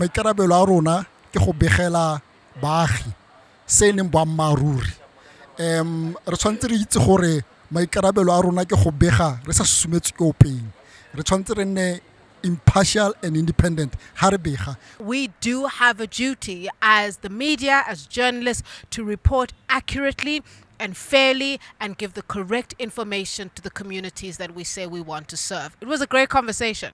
maikarabelo a rona ke go begela baagi se e leng boammaaruri um re tshwanetse re itse gore maikarabelo a rona ke go bega re sa susumetse ke openg re tshwanetse re nne impartial and independent Harbicha. We do have a duty as the media, as journalists, to report accurately and fairly and give the correct information to the communities that we say we want to serve. It was a great conversation.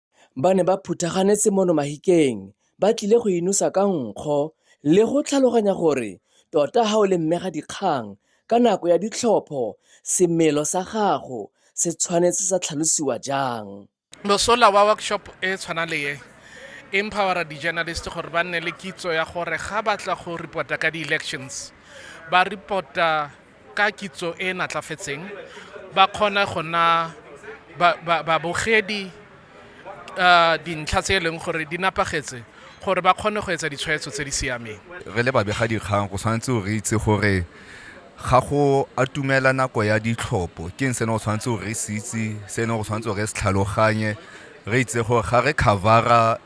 ba ne ba phuthagane semono mahikeng ba tlile go inosa ka nkgo le go tlhaloganya gore tota ha o le mmega dikgang ka nako ya ditlhopho semelo sa gago se tshwanetse sa tlhalosiwa jang mosola wa workshop e tshwana le ye empowera di-journalist gore ba nne le kitso ya gore ga batla go reporta ka di-elections ba reporta Ka kitso e e natlafetseng ba kgona go na babogedi dintlha tse e leng gore di napagetse gore ba kgone go etsa ditshwetso tse di siameng. Re le babegadikgang go tshwanetse re itse gore ga go atumela nako ya ditlhopho ke eng se ne go tshwanetse gore re se itse, se ne go tshwanetse gore re se tlhaloganye, re itse gore ga re cover-a.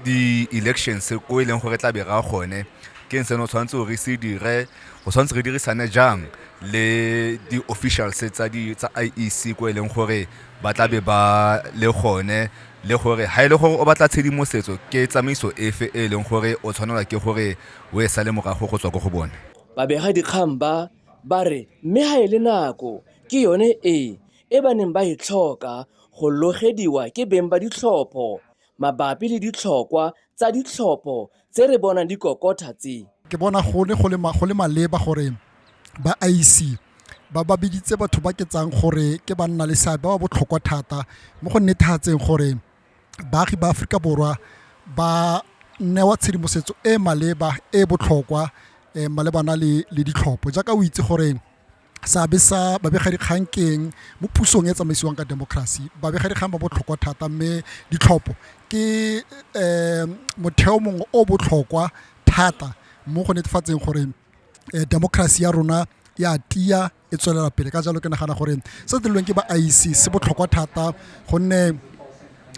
di-elections ko e leng gore tla be ra gone ke eng seno tshwanetse gore se dire go tshwanetse re dirisane jang le di-officials tsa di tsa IEC ko e leng gore ba tla be ba le gone le gore ha ile e gore o batla tshedimosetso ke tsamaiso efe e leng gore o tshwanela ke gore o e sale morago go tswa go go bone babega dikgang ba ba re mme ha ile e nako ke yone e e ba neng ba e tlhoka go logediwa ke beng ba ditlhopho mabapi le ditlhokwa tsa ditlhopho tse re bonang di kokotha tse. Ke bona gone go le maleba gore ba IEC ba ba biditse batho ba ke tsang gore ke banna le seabe ba ba botlhokwa thata mo go netefatseng gore baagi ba Aforika Borwa ba newa tshedimosetso e e maleba e e botlhokwa malebana le ditlhopho jaaka o itse gore seabe sa babegadikgang keng mo pusong e tsamaisiwang ka democracy babegadikgang ba botlhokwa thata mme ditlhopho ke um motheo mongwe o botlhokwa thata mo go netefatseng gore eh, democracy ya rona ya tia e tswelela pele ka jalo ke nagana gore se dirilweng ke ba IEC se botlhokwa thata gonne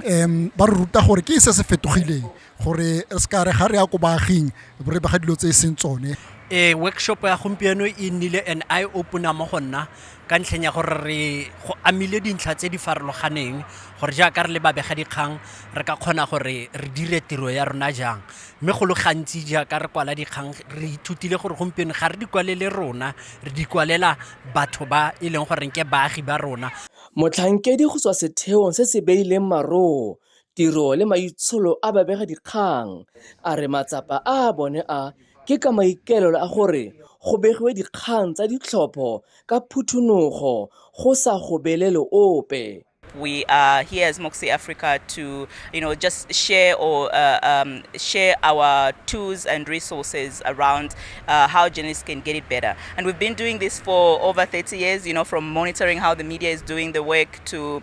um ba re ruta gore ke se se fetogileng gore re se ka re ga re ya ko baaging re bega dilo tse e seng tsone e workshop ya gompieno e nnile an eye opener mo go nna ka ntlheng ya gore re go amile dintlha tse di farologaneng gore jaaka re le babega dikgang re ka kgona gore re dire tiro ya rona jang mme go le gantsi jaaka re kwala dikgang re ithutile gore gompieno ga re di kwalele rona re di kwalela batho ba e leng goreng ke baagi ba rona motlhankedi go tswa setheong se se beileng maroo tiro le maitsholo a babegadikgang, a re matsapa a bone a ke ka maikaelelo a gore go begiwe dikgang tsa ditlhopho ka phuthunogo go sa gobelele ope. we are here as Moxie Africa to, you know, just share or uh, um, share our tools and resources around uh, how journalists can get it better. And we've been doing this for over 30 years, you know, from monitoring how the media is doing the work to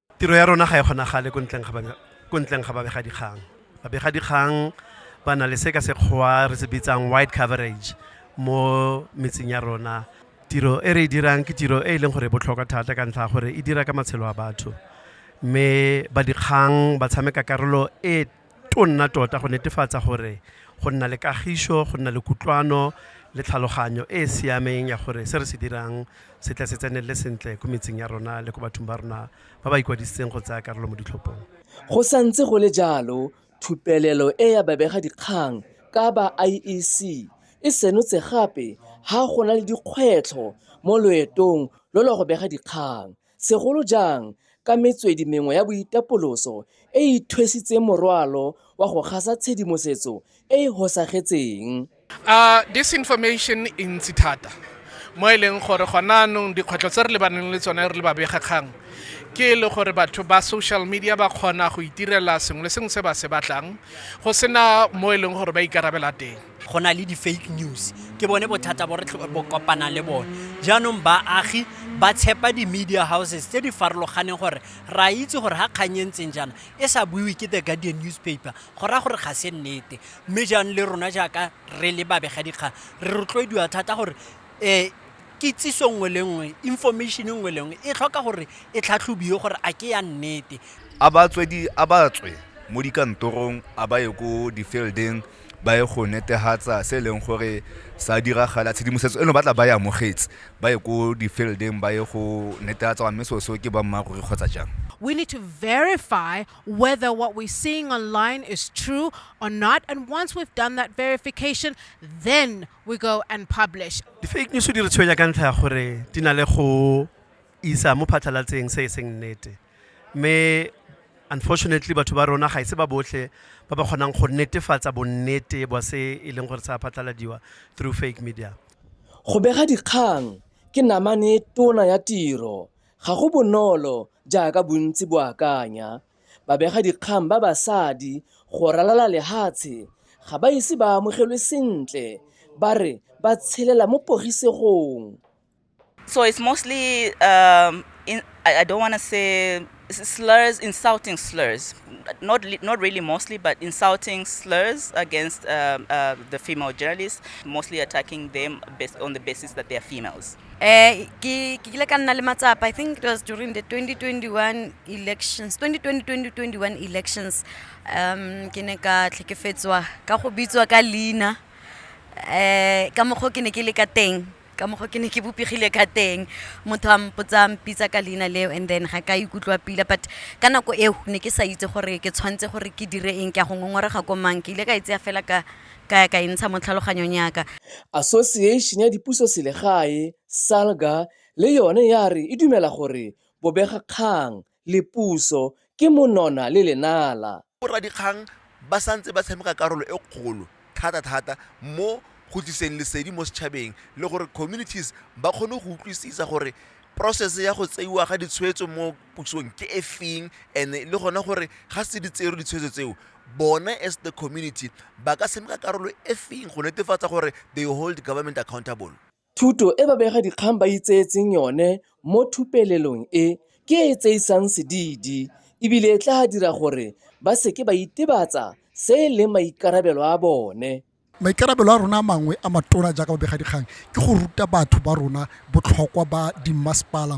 tiro ya rona ga e kgonagale ko ntleng ga babegadikgang babegadikgang ba na le se ka sekgwa re se bitsang wide coverage mo metseng ya rona tiro e re e dirang ke tiro e e leng gore e botlhokwa thata ka ntlha gore e dira ka matshelo a batho mme ba dikgang ba tshameka karolo e tonna tota go netefatsa gore go nna le kagišo go nna le kutlwano le tlhaloganyo e e siameng ya gore se re se dirang se tle se tsenelele sentle ko metseng ya rona le ko bathong ba rona ba ba ikwadisitseng go tsaya karolo mo ditlhophong go santse go le jalo thupelelo e ya babega dikgang ka ba iec e senotse gape ha go na le dikgwetlho mo loetong lo lwa go bega dikgang segolo jang ka metswedi mengwe ya boitapoloso e e ithwesitseng morwalo wa go gasa tshedimosetso e e hosagetseng. A disinformation e ntsi thata mo e leng gore gona anong dikgwetlho tse re lebaneng le tsone re le babegakgang ke e le gore batho ba social media ba kgona go itirela sengwe le sengwe se ba se batlang go sena mo e leng gore ba ikarabela teng. go na le di-fake news ke bone bothata bo re bo kopana le bone jaanong baagi ba tshepa di-media houses tse di farologaneng gore ra itse gore ga kgang e ntseng jaana e sa buiwe ke the guardian newspaper go raya gore ga se nnete mme jaanong le rona jaaka re le babegadikgang re rotloediwa thata gore um kitsiso nngwe le nngwe information nngwe le nngwe e tlhoka gore e tlhatlhobiwe gore a ke ya nnete a ba tswe mo dikantorong a ba ye ko di-fieldeng ba ye go netehatsa se e leng gore sa diragala tshedimosetso eno ba tla ba e amogetse ba ye ko di-fieldeng ba ye go netehatsa gore mme seo seo ke boammaaruri kgotsa jang we need to verify whether what we're seeing online is true or not. And once we've done that verification, then we go and publish. Di-fake news di re tshwenya ka ntlha ya gore di na le go isa mo phatlhalatseng se e seng nnete mme unfortunately batho ba rona ga ise ba botlhe ba ba kgonang go netefatsa bonnete bwa se e leng gore sa phatlaladiwa through fake media go bega dikgang ke namane tona ya tiro ga go bonolo jaaka bontsi bo akanya babega dikgang ba basadi go ralala lehatshe ga ba ise ba amogelwe sentle ba re ba tshelela mo pogisegong So it's mostly, um, in, I, I don't want to say slurs, insulting slurs, not not really mostly, but insulting slurs against um, uh, the female journalists, mostly attacking them based on the basis that they are females. Eh, I think it was during the 2021 elections, 2020-2021 elections, um, ke ne ka tlhekefetswa ka go bitswa ka leina eh ka mokgwa ke ne ke le ka teng ka mokgwa ke ne ke bopegile ka teng motho a mpotsa mpitsa ka leina leo and then ga ka ikutlwa pila but ka nako eo ne ke sa itse gore ke tshwanetse gore ke dire eng ke a go ngongorega ko mang ke ile ka e tseya fela ka ka ka e ntsha mo tlhaloganyong yaka Association ya Dipuso Selegae, SALGA, le yone ya re e dumela gore bobegakgang le puso ke monona le lenala. Boradikgang ba santse ba tshameka karolo e kgolo thata thata mo go tliseng lesedi mo setšhabeng le gore communities ba kgone go utlwisisa gore process ya go tseiwa ga ditshwetso mo pusong ke e feng and le gone gore ga se di tsere ditshwetso tseo bone as the community ba ka tshameka karolo e feng go netefatsa gore they hold government accountable. Thuto e babegadikgang ba itseetseng yone mo thupelelong e ke e e tseisang sedidi e bile e tla dira gore ba se ke ba itebatsa se e leng maikarabelo a bone. Maikarabelo a rona a mangwe a matona jaaka babegadikgang ke go ruta batho ba rona botlhokwa ba dimmasepala,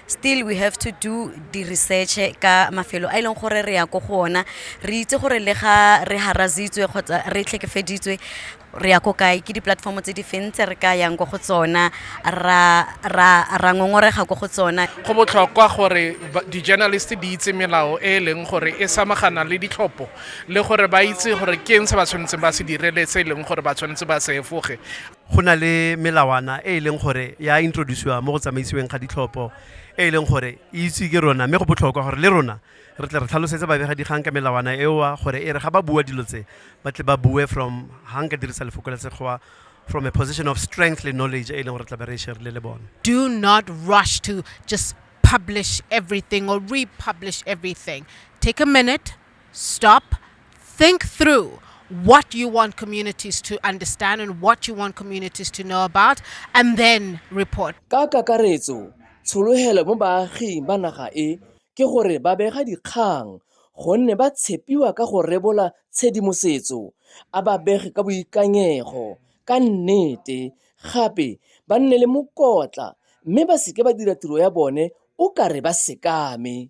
still we have to do the research ka mafelo a e leng gore re ya ko go ona re itse gore le ga re harazitswe kgotsa re tlhekefeditswe re ya ko kae ke di-platform tse di feng tse re ka yang ko go tsona ra ra ra ngongorega ko go tsona go botlhokwa gore ba- di-journalist di itse melao e e leng gore e samagana le ditlhopho le gore ba itse gore ke eng se ba tshwanetseng ba se dire le se e leng gore ba tshwanetse ba se efoge go na le melawana e e leng gore ya introduciwa mo go tsamaisiweng ga ditlhopho e e leng gore e itse ke rona mme go botlhokwa gore le rona re tle re tlhalosetse babegadikgang ka melawana eoa gore e re ga ba bua dilo tse ba tle ba bue from ga nka dirisa lefoko la sekgowa from a position of strength le knowledge e leng gore tla be re sharile le bone do not rush to just publish everything or republish everything take a minute stop think through what you want communities to understand and what you want communities to know about and then report ka kakaretso tshologelo mo baaging ba naga e ke gore ba bega dikgang gonne ba tshepiwa ka go rebola tshedimosetso a ba bege ka boikanyego ka nnete gape ba nne le mokotla mme ba seke ba dira tiro ya bone o kare ba sekame